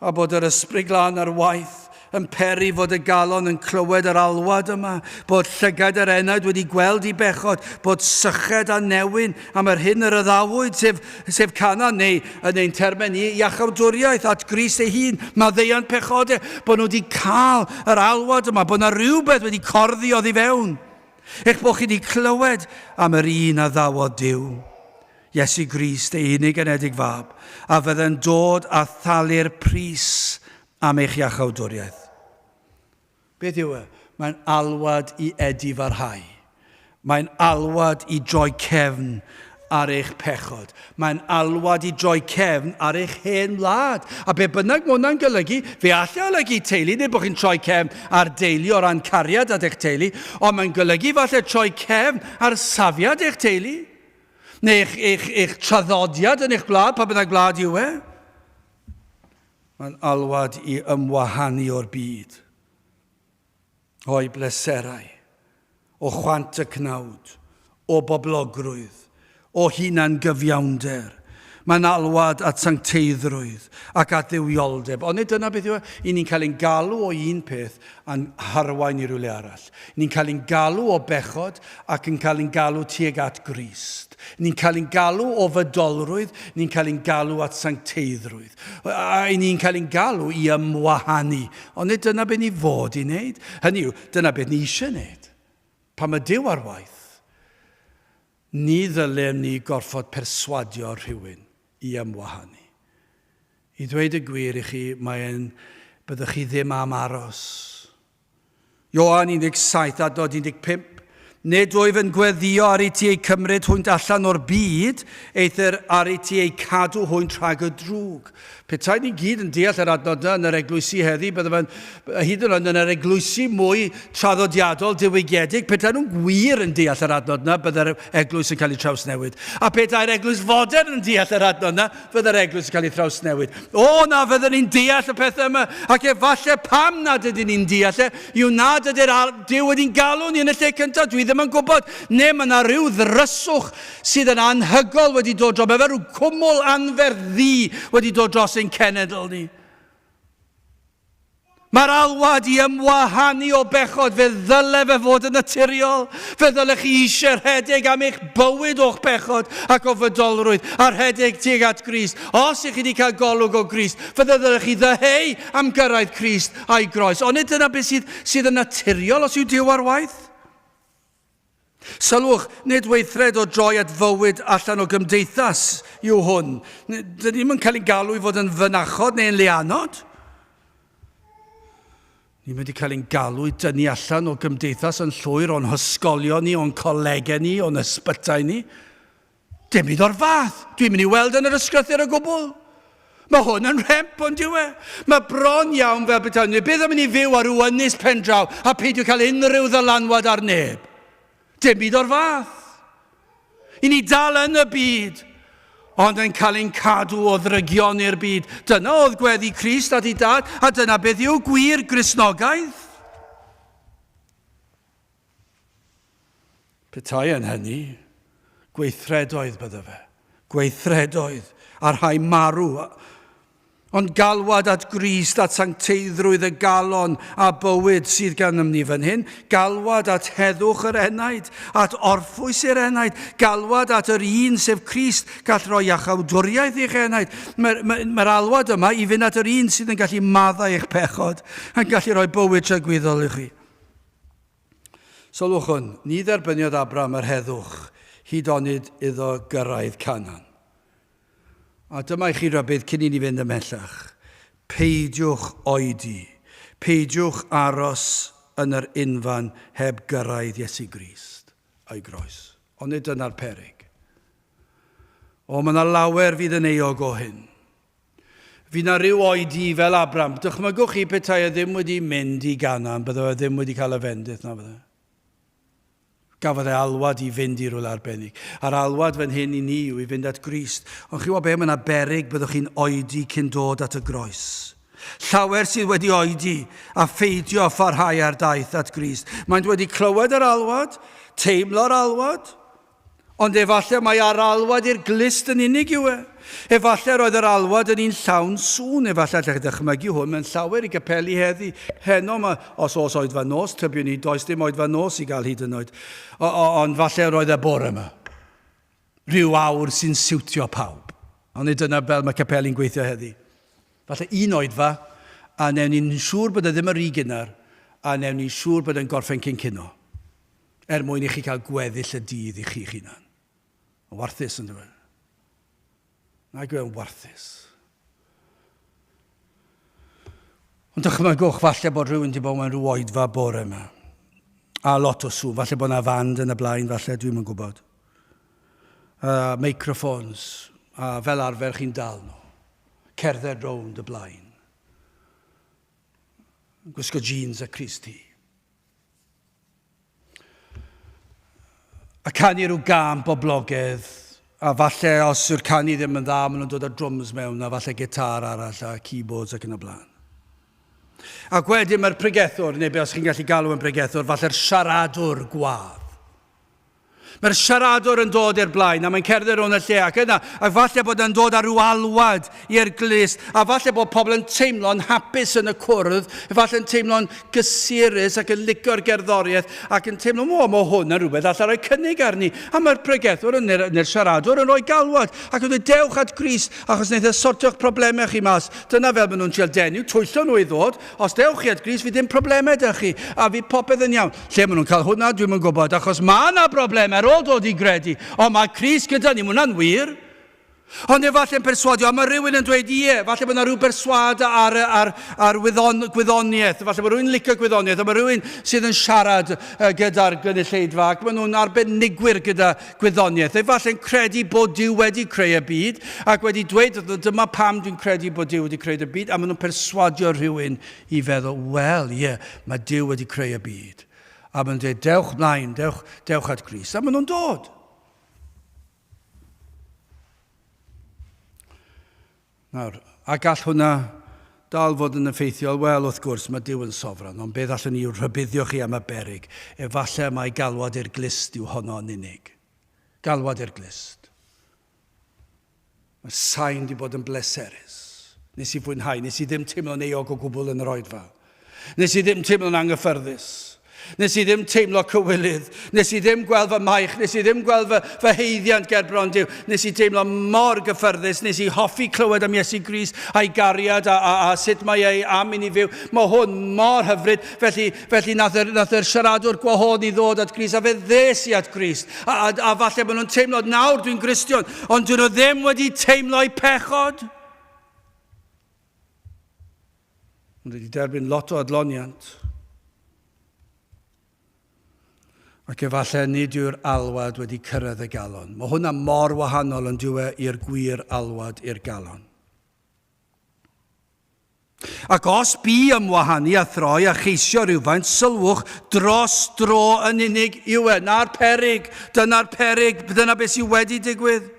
a bod yr ysbryd glân ar waith yn peri fod y galon yn clywed yr alwad yma, bod llygaid yr enaid wedi gweld i bechod, bod syched a newyn am yr hyn yr yddawyd, sef, sef canan, neu yn ein termen ni, iachawdwriaeth at Grist ei hun, maddeuant pechode, bod nhw wedi cael yr alwad yma, bod yna rhywbeth wedi corddi oddi fewn. Eich bod chi wedi clywed am yr un a ddawodd Duw, Iesu Grist, ei unig anedig fab, a fydde'n dod a thalu'r pris am eich iachawdwriaeth. Beth yw e? Mae'n alwad i edifarhau. Mae'n alwad i droi cefn ar eich pechod. Mae'n alwad i droi cefn ar eich hen wlad. A be bynnag mae hwnna'n golygu, fe allai olygu teulu neu bod chi'n troi cefn ar deulu o ran cariad at eich teulu, ond mae'n golygu falle troi cefn ar safiad eich teulu, neu eich, eich, eich traddodiad yn eich gwlad, pa bynnag wlad yw e. Mae'n alwad i ymwahanu o'r byd. o'u bleserau, o chwant y cnawd, o boblogrwydd, o hunan-gyfiawnder. Mae'n alwad at sancteiddrwydd ac at dduwioldeb. Ond nid dyna beth yw e. I ni'n cael ein galw o un peth a'n harwain i rywle arall. Ni'n cael ein galw o bechod ac yn cael ein galw tuag at Grist. Ni'n cael ein galw o fydolrwydd, ni'n cael ein galw at sancteiddrwydd. A i ni'n cael ein galw i ymwahanu. Ond nid dyna beth ni fod i wneud. Hynny yw, dyna beth ni eisiau wneud. Pa mae Dyw ar waith. Ni ddylem ni gorfod perswadio rhywun i ymwahanu. I ddweud y gwir i chi, mae'n byddwch chi ddim am aros. Ioan 17 a dod 15, Nid wyf yn gweddio ar i ti eu cymryd hwynt allan o'r byd, eithr ar i ti eu cadw hwynt rhag y drwg. Petai ni gyd yn deall yr adnod yna yn yr eglwysi heddi, bydde fe'n, hyd yn oed yn yr eglwysi mwy traddodiadol, diwygiedig, petai nhw'n gwir yn deall yr adnod yna, bydde'r eglwys yn cael ei trawsnewid. A petai'r eglwys fodern yn deall yr adnod yna, Byddai'r Eglwys yn cael ei thrawsnewid. O na, fydden ni'n deall y pethau yma, ac efallai pam nad ydyn ni'n deall e, yw nad ydy'r Dyw wedi'n galw ni yn y lle cyntaf, dwi ddim yn gwybod, neu mae yna rhyw ddryswch sydd yn anhygol wedi dod dros, mae fe rhyw cwmwl anferth ddu wedi dod dros ein cenedl ni. Mae'r alwad i ymwahanu o bechod, fe ddyle fe fod yn naturiol. Fe ddylech chi eisiau rhedeg am eich bywyd o'ch pechod ac o fydolrwydd, a rhedeg tuag at Grist. Os ych chi wedi cael golwg o Grist, fe ddylech chi ddyheu am gyrraedd Crist a'i groes. Ond nid dyna beth sydd, sydd yn naturiol os yw Duw ar waith. Sylwch, nid weithred o droi at fywyd allan o gymdeithas yw hwn. Dyn ni'm yn cael ein galw i fod yn fynachod neu'n leanod. Ni'n mynd i cael ein galw i dynnu allan o gymdeithas yn llwyr o'n hysgolion ni, o'n colegau ni, o'n ysbytai ni. Dim byd o'r fath. Dwi'n mynd i weld yn yr ysgrythyr o gwbl. Mae hwn yn rhemp ond yw e. Mae bron iawn fel betawn ni byth yn mynd i fyw ar ryw ynys pendraw a peidio cael unrhyw ddylanwad ar neb. Dim byd o'r fath. I ni dal yn y byd, ond yn cael ein cadw o ddrygion i'r byd. Dyna oedd gweddi Crist at ei dad, a dyna beth yw gwir Grisnogaeth. Petai yn hynny, gweithredoedd bydda fe. Gweithredoedd, a rhai marw, ond galwad at Grist, at sancteiddrwydd y galon a bywyd sydd gennym ni fan hyn, galwad at heddwch yr enaid, at orffwys i'r enaid, galwad at yr un sef Crist gall roi iachawdwriaeth i'ch enaid. Mae'r mae, mae alwad yma i fynd at yr un sydd yn gallu maddau eich pechod, yn gallu rhoi bywyd tragwyddol i chi. Sylwchwn, ni dderbyniodd Abram yr heddwch hyd onid iddo gyrraedd Canan. A dyma i chi rybudd cyn i ni fynd ymhellach, peidiwch oedi, peidiwch aros yn yr unfan heb gyrraedd Iesu Grist a'i groes. Onid dyna'r peryg? O, mae yna lawer fydd yn euog o hyn. Fydd na ryw oed di fel Abram. Dychmygwch chi petai e ddim wedi mynd i Ganan, byddo e ddim wedi cael y fendith na fydde. Gafodd e alwad i fynd i rwle arbennig. A'r alwad fan hyn i ni yw i fynd at Grist. Ond chi'n gwybod be, mae yna berig byddwch chi'n oedi cyn dod at y groes. Llawer sydd wedi oedi a pheidio â pharhau ar daith at Grist. Maent wedi clywed yr alwad, teimlo'r alwad, Ond efallai mai ar alwad i'r glust yn unig yw e. Efallai roedd yr alwad yn un llawn sŵn. Efallai allech chi ddychmygu hwn mewn llawer i gapeli heddi, heno, mae, os oes oedfa nos, tybiwn i, does dim oedfa nos i gael hyd yn oed. O, o, ond falle roedd y bore yma. Rhyw awr sy'n siwtio pawb. Ond nid dyna fel mae capeli'n gweithio heddi. Falle un oedfa, a newn ni'n siŵr bod e ddim yn rhy gynnar, a newn ni'n siŵr bod e'n gorffen cyn cino. Er mwyn i chi cael gweddill y dydd i chi'ch hunan. Yn warthus, yn dyw? Nag yw e'n warthus? Ond dychmygwch falle bod rhywun wedi bod mewn rhyw oedfa bore yma. A lot o sŵn, falle bod yna fand yn y blaen, falle, dwi'n yn gwybod. A microphones, a fel arfer chi'n dal nhw. Cerdded rownd y blaen. Gwisgo jeans a Chris ti. A canu rhyw gân boblogaidd, a falle os yw'r canu ddim yn dda, maen nhw'n dod â drwms mewn, a falle gitar arall, a keyboards ac yn y blaen. Ac wedyn mae'r pregethwr, neu be os chi'n gallu galw yn bregethwr, falle'r siaradwr gwadd. Mae'r siaradwr yn dod i'r blaen a mae'n cerdded rownd y lle ac yna, ac falle bod e'n dod â rhyw alwad i'r glust, a falle bod pobl yn teimlo'n hapus yn y cwrdd, efallai'n teimlo'n gysurus ac yn licio'r gerddoriaeth ac yn teimlo, o, mae hwn yn rhywbeth allai roi cynnig arni. A mae'r pregethwr yn, neu'r, neu'r siaradwr yn rhoi galwad ac yn dweud, dewch at Grist achos wneith e sortio'ch problemau chi mas. Dyna fel maen nhw'n trial denu, twyllo nhw i ddod, os dewch chi at Grist fydd dim problemau da chi a fydd popeth yn iawn. Lle maen nhw'n cael hwnna, dwi'm yn gwybod, achos mae yna broblem ar ôl dod i gredu, ond mae Cris gyda ni, mae hwnna'n wir. Ond efallai'n perswadio, a mae rhywun yn dweud, ie, falle bod yna rhyw berswad ar, ar, ar wyddon, gwyddoniaeth, falle bod rhywun yn licio gwyddoniaeth, a mae rhywun sydd yn siarad gyda'r gynulleidfa, ac maen nhw'n arbenigwyr gyda gwyddoniaeth, efallai'n credu bod Dyw wedi creu y byd, ac wedi dweud, dyma pam dwi'n credu bod Dyw wedi creu y byd, a maen nhw'n perswadio rhywun I feddwl, Wel, ie, mae Duw wedi creu y byd. A maen nhw'n dweud, Dewch mlaen, dewch, dewch at Grist. A maen nhw'n dod. Nawr, a gall hwnna dal fod yn effeithiol? Wel, wrth gwrs, mae Duw yn sofran, ond beth allwn ni i'w rhybuddio chi am y berig? Efallai mai galwad i'r glust yw honno yn unig. Galwad i'r glust. Mae sain 'di bod yn bleserus. Nes i fwynhau, nes i ddim teimlo'n euog o gwbl yn yr oed fa. Nes i ddim teimlo'n anghyffyrddus. Nes i ddim teimlo cywilydd. Nes i ddim gweld fy maich. Nes i ddim gweld fy, fy heiddiant ger bron Duw. Nes i deimlo mor gyffyrddus. Nes i hoffi clywed am Iesu Gris a'i gariad a, a, a sut mae ei am i ni fyw. Mae hwn mor hyfryd. Felly, Felly nath yr, nath yr siaradwr gwahodd ni ddod at Grist, a fe ddes i at Grist. A, a, a falle bod nhw'n teimlo, nawr dwi'n Gristion, ond dyn nhw ddim wedi teimlo i pechod. Ond wedi derbyn lot o adloniant. Ac efallai nid yw'r alwad wedi cyrraedd y galon. Mae hwnna mor wahanol yn diwe i'r gwir alwad i'r galon. Ac os bu ymwahanu a throi a cheisio rhywfaint sylwch dros dro yn unig yw e. 'Na'r peryg. Dyna'r peryg. Dyna beth sydd wedi digwydd.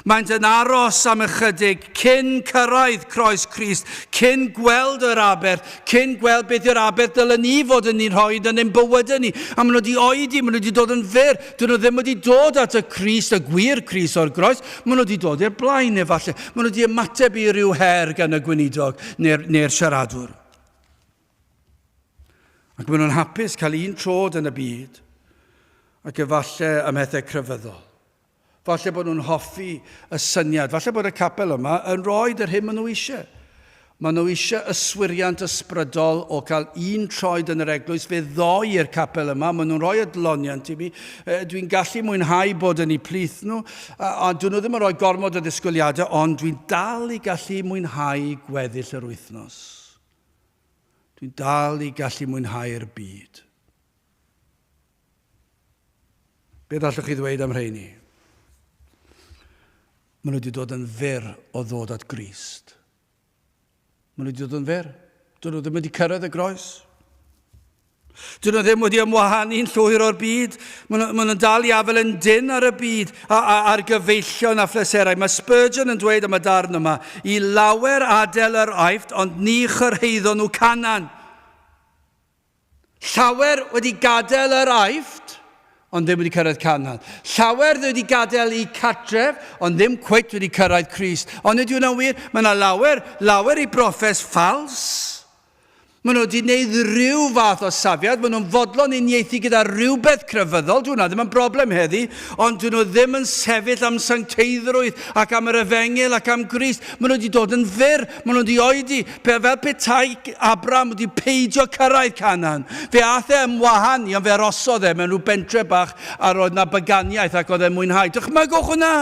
Maent yn aros am ychydig cyn cyrraedd croes Crist, cyn gweld yr aberth, cyn gweld beth yw'r aberth dylen ni fod yn ei rhoi yn ein bywydau ni. A maen nhw wedi oedi, maen nhw wedi dod yn fyr. Dyn nhw ddim wedi dod at y Crist, y gwir Crist o'r groes. Maen nhw wedi dod i'r blaen efallai. Maen nhw wedi ymateb i ryw her gan y gweinidog neu'r neu siaradwr. Ac maen nhw'n hapus cael un trod yn y byd ac efallai ym mhethau crefyddol. Falle bod nhw'n hoffi y syniad, falle bod y capel yma yn rhoi yr hyn maen nhw eisiau. Maen nhw eisiau yswiriant ysbrydol o cael un troed yn yr eglwys, fe ddoi i'r capel yma, maen nhw'n rhoi adloniant i mi, dwi'n gallu mwynhau bod yn eu plith nhw, a dyn nhw ddim yn rhoi gormod o ddisgwyliadau, ond dwi'n dal i gallu mwynhau gweddill yr wythnos. Dwi'n dal i gallu mwynhau'r byd. Beth allwch chi ddweud am rheini? Maen nhw wedi dod yn fyr o ddod at Grist. Maen nhw wedi dod yn fer. Dyn nhw ddim wedi cyrraedd y groes. Dyn nhw ddim wedi ymwahanu yn llwyr o'r byd. Maen nhw, maen nhw'n dal i afel yn dyn ar y byd, a, a, ar gyfeillion a phleserau. Mae Spurgeon yn dweud am y darn yma, i lawer adael yr aifft, ond ni chyrhaeddon nhw canan. Llawer wedi gadael yr Aifft, ond ddim wedi cyrraedd Canan. Llawer wedi gadael eu cartref, ond ddim cweit wedi cyrraedd Crist. Ond ydy hwnna'n wir? Mae yna lawer, lawer i broffes ffals. Mae nhw wedi gwneud rhyw fath o safiad, mae nhw'n fodlon uniaethu gyda rhywbeth crefyddol, dyw hwnna ddim yn broblem heddi, ond dyn nhw ddim yn sefyll am sancteiddrwydd ac am yr efengyl ac am Grist. Mae nhw wedi dod yn fyr, Maen nhw'n wedi oedi, pe, fel petai Abram wedi peidio cyrraedd Canaan. Fe aeth e yn wahân i, ond fe arosodd e mewn rhyw bentre bach a roedd na baganiaeth ac oedd e'n mwynhau. Dychmygwch hwnna!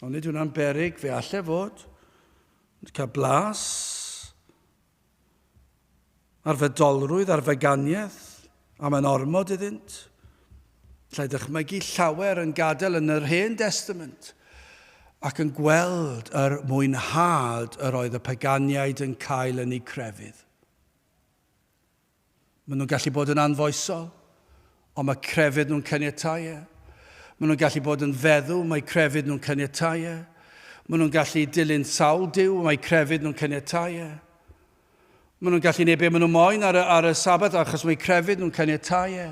Ond nid hwnna'n berig, fe allai fod. Cael blas ar fedolrwydd, ar feganiaeth, a mae'n ormod iddynt. Lle dychmygu llawer yn gadael yn yr Hen Destament ac yn gweld yr mwynhad yr oedd y paganiaid yn cael yn eu crefydd. Maen nhw'n gallu bod yn anfoesol, ond mae crefydd nhw'n caniatáu e. Maen nhw'n gallu bod yn feddw, mae crefydd nhw'n caniatáu e. Maen nhw'n gallu dilyn sawl Duw, mae crefydd nhw'n caniatáu e. Maen nhw'n gallu gwneud be maen nhw moyn ar y, ar y Sabbath achos mae crefydd nhw'n caniatáu e.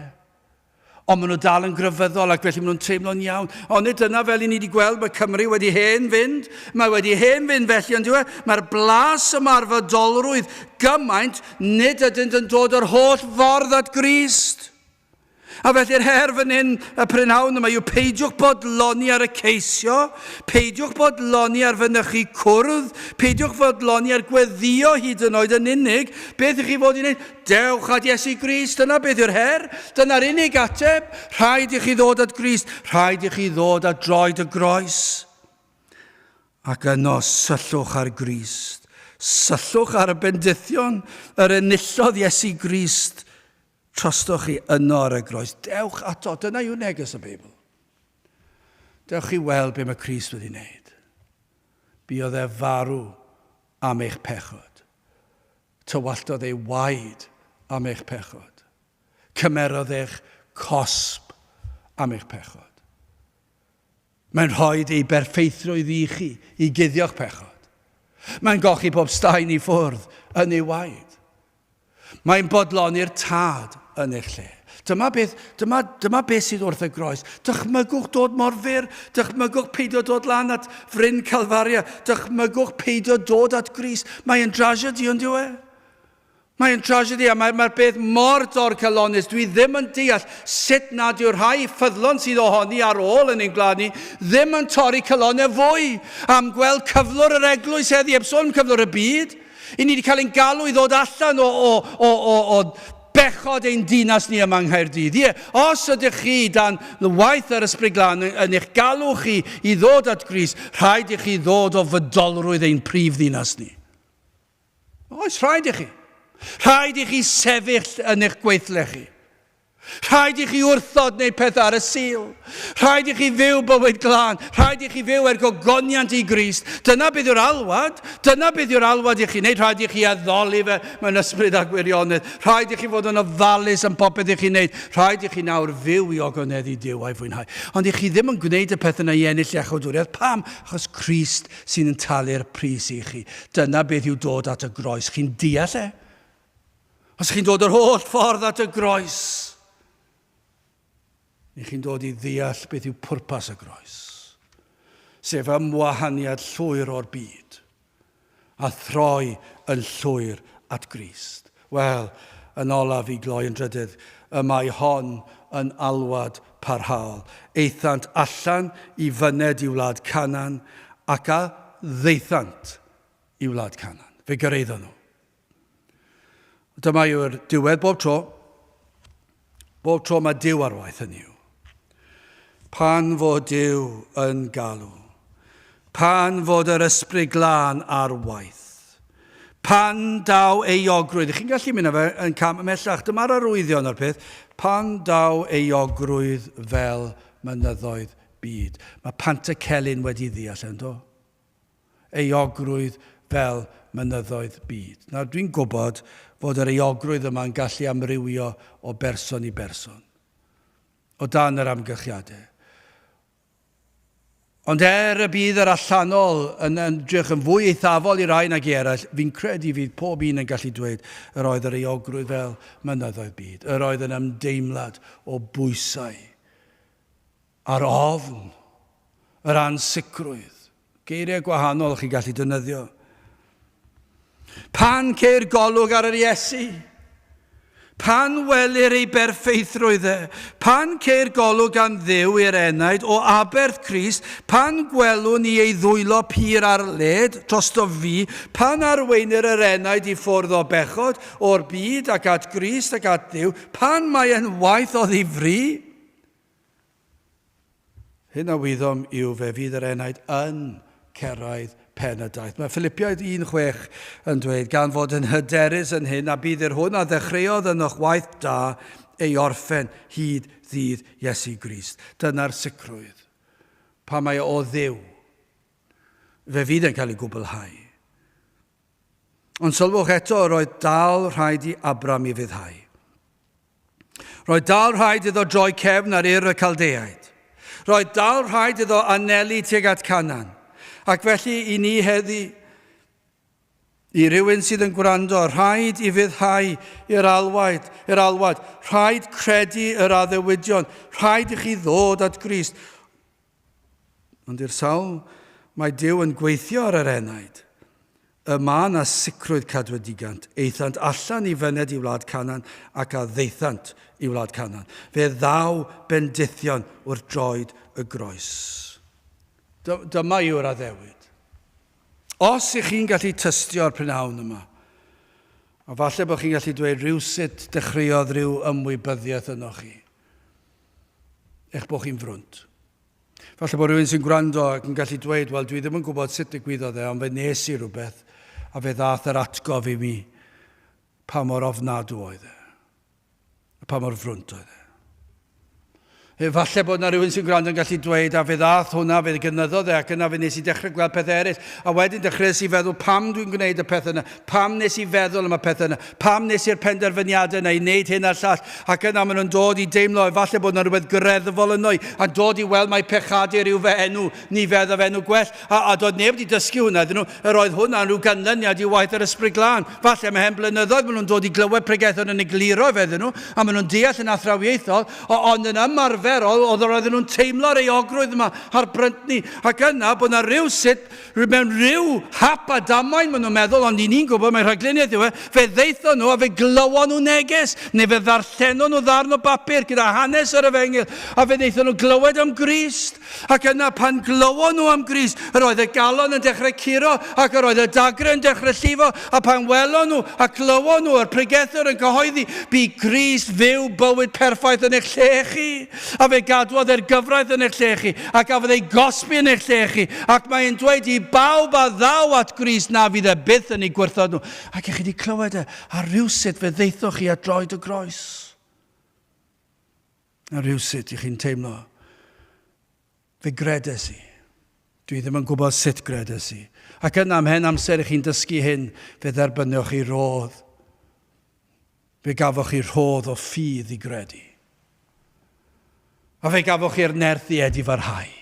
Ond maen nhw dal yn grefyddol ac felly maen nhw'n teimlo'n iawn. Ond nid dyna fel i ni wedi gweld, mae Cymru wedi hen fynd. Mae wedi hen fynd felly yn dweud, mae'r blas ymarfer dolrwydd gymaint, nid ydynt yn dod yr holl ffordd at Grist. A felly'r her fan hyn, y prynhawn yma, yw peidiwch bodloni ar y ceisio, peidiwch bodloni ar fynychu cwrdd, peidiwch fodloni ar gweddio hyd yn oed yn unig, beth ych chi fod i'n ei... Dewch at Iesu Grist, dyna beth yw'r her, dyna'r unig ateb. Rhaid i chi ddod at Grist, rhaid i chi ddod at droed y groes. Ac yno syllwch ar Grist, syllwch ar y bendithion, yr enillodd Iesu Grist, trostwch chi yno ar y groes. Dewch ato, dyna yw neges y Beibl. Dewch chi weld be mae Grist wedi wneud. Biodd e farw am eich pechod. Tywalltodd ei waed am eich pechod. Cymerodd eich cosb am eich pechod. Mae'n rhoi ei berffeithrwydd i chi i guddio'ch pechod. Mae'n gochi pob staen i ffwrdd yn ei waed. Mae'n bodloni'r tad yn eich lle. Dyma beth, dyma, dyma beth sydd wrth y groes. Dychmygwch dod mor fyr, dychmygwch peidio dod lan at fryn Calfaria, dychmygwch peidio dod at Gris. Mae'n drasiedi, ond yw e? Mae'n drasiedi a mae'r mae beth mor dorcalonus. Dwi ddim yn deall sut nad yw'r rhai ffyddlon sydd ohoni ar ôl yn ein gwlad ni ddim yn torri calonau fwy am gweld cyflwr yr eglwys heddi, heb sôn am cyflwr y byd. I ni wedi cael ein galw i ddod allan o, o, o, o, o bechod ein dinas ni yma yng Nghaerdydd. Ie, os ydych chi dan waith yr Ysbryd Glân yn, yn eich galw chi i ddod at Gris, rhaid i chi ddod o fydolrwydd ein prif ddinas ni. Oes, rhaid i chi. Rhaid i chi sefyll yn eich gweithle chi. Rhaid i chi wrthod neu pethau ar y Sul. Rhaid i chi fyw bywyd glân. Rhaid i chi fyw er gogoniant i Grist. Dyna beth yw'r alwad. Dyna beth yw'r alwad i chi wneud. Rhaid i chi addoli fe mewn ysbryd a gwirionedd. Rhaid i chi fod yn ofalus yn popeth i chi wneud. Rhaid i chi nawr fyw i ogoneddu Duw a'i fwynhau. Ond i chi ddim yn gwneud y peth yna i ennill iachawdwriaeth. Pam? Achos Crist sy'n yn talu'r pris i chi. Dyna beth yw dod at y groes. Chi'n deall e? Os chi'n dod yr holl ffordd at y groes, Ych chi'n dod i ddeall beth yw pwrpas y Groes, sef ymwahaniad llwyr o'r byd, a throi yn llwyr at Grist? Wel, yn olaf, i gloi yn drydydd, y mae hon yn alwad parhaol. Aethant allan i fyned i wlad Canan, ac a ddaethant i wlad Canan? Fe gyraeddon nhw. Dyma yw'r diwedd bob tro. Bob tro mae Dyw ar waith yn yw. Pan fod Dyw yn galw. Pan fod yr ysbryd glân ar waith. Pan daw euogrwydd. Chi'n gallu mynd fe yn cam ymhellach. Dyma'r arwyddion o'r peth. Pan daw euogrwydd fel mynyddoedd byd. Mae Pantycelyn wedi ddeall yn do. euogrwydd fel mynyddoedd byd. Nawr, dwi'n gwybod fod yr euogrwydd yma yn gallu amrywio o berson i berson, o dan yr amgylchiadau. Ond er y bydd yr allanol yn ymdrech yn fwy eithafol i rai nag i eraill, fi'n credu fydd pob un yn gallu dweud yr oedd yr euogrwydd fel mynyddoedd byd, yr oedd yn ymdeimlad o bwysau Ar ofn yr ansicrwydd. Geiriau gwahanol chi'n gallu defnyddio. Pan ceir golwg ar yr Iesu, pan welir ei berffeithrwydd e, pan ceir golwg am ddew i'r enaid o aberth Crist, pan gwelwn ni ei ddwylo pur ar led drosto fi, pan arweinir yr enaid i ffwrdd o bechod, o'r byd ac at Grist ac at Dduw, pan mae e'n waith o ddifri, Hyn a wyddom yw fe fydd yr enaid yn cyrraedd pen y daith. Mae Ffilipiaid 1.6 yn dweud, gan fod yn hyderus yn hyn, a bydd yr hwn a ddechreuodd ynoch waith da ei orffen hyd ddydd Iesu Grist. Dyna'r sicrwydd. Pan mae o Dduw, fe fydd yn cael ei gwblhau. Ond sylwch eto, roedd dal rhaid i Abram i fuddhau. Roedd dal rhaid iddo droi cefn ar Ur y Caldeaid. Roedd dal rhaid iddo anelu tuag at Canan. Ac felly i ni heddi, i rywun sydd yn gwrando, rhaid i fuddhau i'r alwaid, i'r alwad, rhaid credu yr addewidion, rhaid i chi ddod at Grist. Ond i'r sawl mae Duw yn gweithio ar yr enaid, y mae na sicrwydd cadwedigant, eithant allan i fyned i wlad Canan ac a ddeithant i wlad Canan. Fe ddaw bendithion wrth droed y groes. Dyma yw'r addewid. Os ych chi'n gallu tystio o'r prynhawn yma, a falle bod chi'n gallu dweud rhywsut dechreuodd rhyw ymwybyddiaeth ynoch chi. eich bod chi'n frwnt. Falle bod rhywun sy'n gwrando ac yn gallu dweud, wel dwi ddim yn gwybod sut digwyddodd e, ond fe nes i rhywbeth, a fe ddath yr atgof i mi pa mor ofnadw oedd e, a pa mor frwnt oedd e. Efallai bod yna rhywun sy'n gwrando yn gallu dweud, a fe ddath hwnna, fe gynyddodd e, ac yna fe nes i dechrau gweld pethau eraill, a wedyn dechreuais i feddwl pam dwi'n gwneud y pethau yna, Pam wnes i feddwl am y pethau yna? Pam wnes i'r penderfyniadau yna i wneud hyn a'r llall? Ac yna maen nhw'n dod i deimlo efallai bod yna rhywbeth greddfol yno i, a'n dod i weld mai pechadur yw fy enw, ni fe ddaf enw gwell. A, a doedd neb wedi dysgu hwnna iddyn nhw. Yr oedd hwnna'n rhyw ganlyniad i waith yr Ysbryd Glân. Falle mae hen blynyddoedd maen nhw'n dod i glywed pregethon yn egluro efe iddyn nhw, a maen nhw'n deall yn athrawiaethol, o, ond yn ymarferol oedd yr oedden nhw'n teimlo reiogrwydd yma a'r bryntni, ac yna bod yna rywsut Mewn rhyw hap a damwain maen nhw'n meddwl, ond i ni'n gwybod mai rhagluniaeth yw e, fe ddaethon nhw a fe glywon nhw neges, neu fe ddarllenon nhw ddarn o bapur gyda hanes yr efengyl, a fe ddaethon nhw glywed am Grist. Ac yna pan glywon nhw am Grist, yr oedd y galon yn dechrau curo, ac yr oedd y dagrau yn dechrau llifo, a pan welon nhw a glywon nhw yr pregethwr yn cyhoeddi, Bu Grist fyw bywyd perffaith yn eich lle chi. A fe gadwodd e'r gyfraith yn eich lle chi, a gafodd ei gosbi yn eich lle chi, ac mae e'n dweud i bawb a ddaw at Grist na fydd e byth yn eu gwrthod nhw. Ac i chi wedi clywed e, a rhywsut fe ddeithoch chi at droed y groes. A rhywsut i chi'n teimlo Fe gredes i. Dwi ddim yn gwybod sut gredes i. Ac yna, ymhen amser i chi'n dysgu hyn, fe dderbynioch chi rodd. Fe gafoch chi rhodd o ffydd i gredu. A fe gafoch chi'r nerth i edi farhau.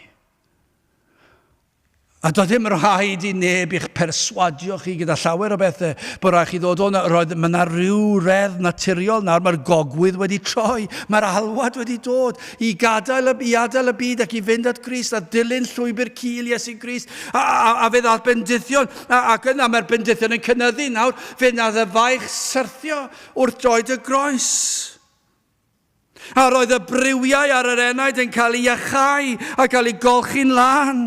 A doedd dim rhaid i neb i'ch perswadio chi gyda llawer o bethau, bod rhaid chi ddod o 'na, roedd, mae 'na ryw reddf naturiol nawr, mae'r gogwydd wedi troi, mae'r alwad wedi dod i gadael y, i adael y byd ac i fynd at Grist a dilyn llwybr cul Iesu Grist, a, a, a fe ddath bendithion, a, ac yna mae'r bendithion yn cynyddu nawr, fe wnaeth y faich syrthio wrth droed y groes. A roedd y briwiau ar yr enaid yn cael ei iachau a cael ei golchi'n lân.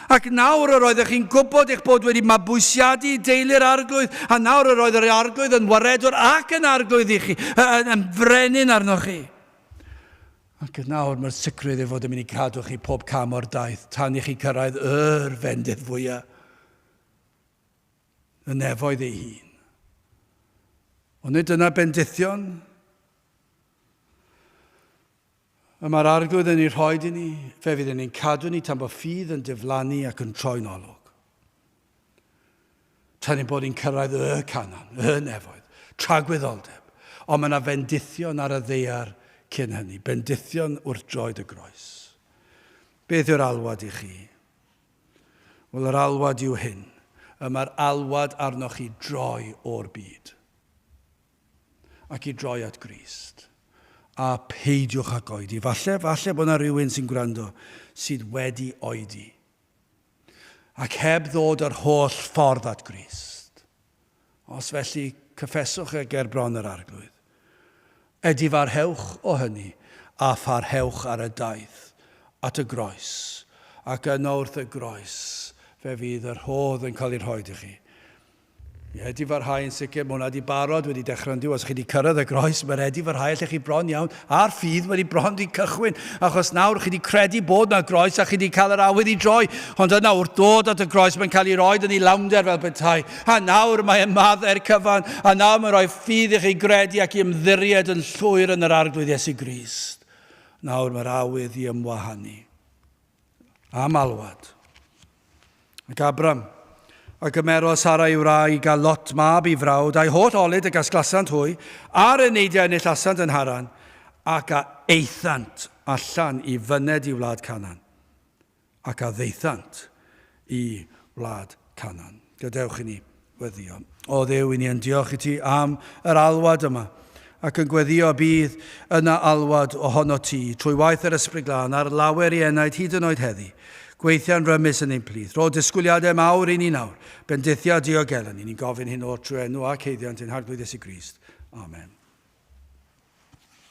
Ac nawr yr oeddech chi'n gwybod eich bod wedi mabwysiadu i deulu'r Arglwydd, a nawr yr oedd yr Arglwydd yn waredwr ac yn Arglwydd i chi, yn, yn frenin arnoch chi. Ac yn nawr mae'r sicrwydd ei fod yn mynd i cadw chi pob cam o'r daith tan i chi cyrraedd yr fendith fwyaf y nefoedd ei hun. Ond nid dyna bendithion Y mae'r Arglwydd yn ei rhoi i ni, fe fydd yn ein cadw ni tan bod ffydd yn diflannu ac yn troi'n olwg. Tan ein bod ni'n cyrraedd y canan, y nefoedd, tragwyddoldeb, ond mae yna fendithion ar y ddeiar cyn hynny, bendithion wrth droed y groes. Beth yw'r alwad i chi? Wel, yr alwad yw hyn. Y mae'r alwad arnoch chi droi o'r byd. ac i droi at Grist. A peidiwch ag oedi. Falle, falle bod yna rywun sy'n gwrando sydd wedi oedi ac heb ddod yr holl ffordd at Grist. Os felly, cyffeswch e ger bron yr Arglwydd. Edifarhewch o hynny, a pharhewch ar y daith at y groes, ac yno wrth y groes fe fydd yr rhodd yn cael ei rhoid i chi. Ie, wedi parhau yn sicr, mae hwnna wedi barod, wedi dechrau yn diw, os chi wedi cyrraedd y groes, mae wedi parhau, allech chi bron iawn, a'r ffydd wedi bron wedi cychwyn, achos nawr chi wedi credu bod yna groes a chi wedi cael yr awydd i droi, ond yna wrth dod at y groes mae'n cael ei roed yn ei lawnder fel petai, a nawr mae ymaddau'r cyfan, a nawr mae'n rhoi ffydd i chi gredu ac i ymddiried yn llwyr yn yr Arglwydd Iesu Grist. Nawr mae'r awydd i ymwahanu. a malwod. Ac Abram, a gymerodd Sara i'w wraig, a Lot mab i frawd, a'i holl olud y gasglasant hwy, a'r eneidiau enillasant yn Haran, ac a aethant allan i fyned i wlad Canan, ac a ddaethant y wlad Canan. Gadewch i ni weddio. O Dduw, i ni yn diolch i ti am yr alwad yma, ac yn gweddio y bydd yna alwad ohono ti, trwy waith yr Ysbryd Glân, ar lawer i enaid hyd yn oed heddi. Gweithia'n rymus yn ein plith. Rho disgwyliadau mawr i ni nawr, bendithio a diogelu ni. Ni'n gofyn hyn o'r trwy enw ac heiddiant ein Harglwydd Iesu Grist. Amen.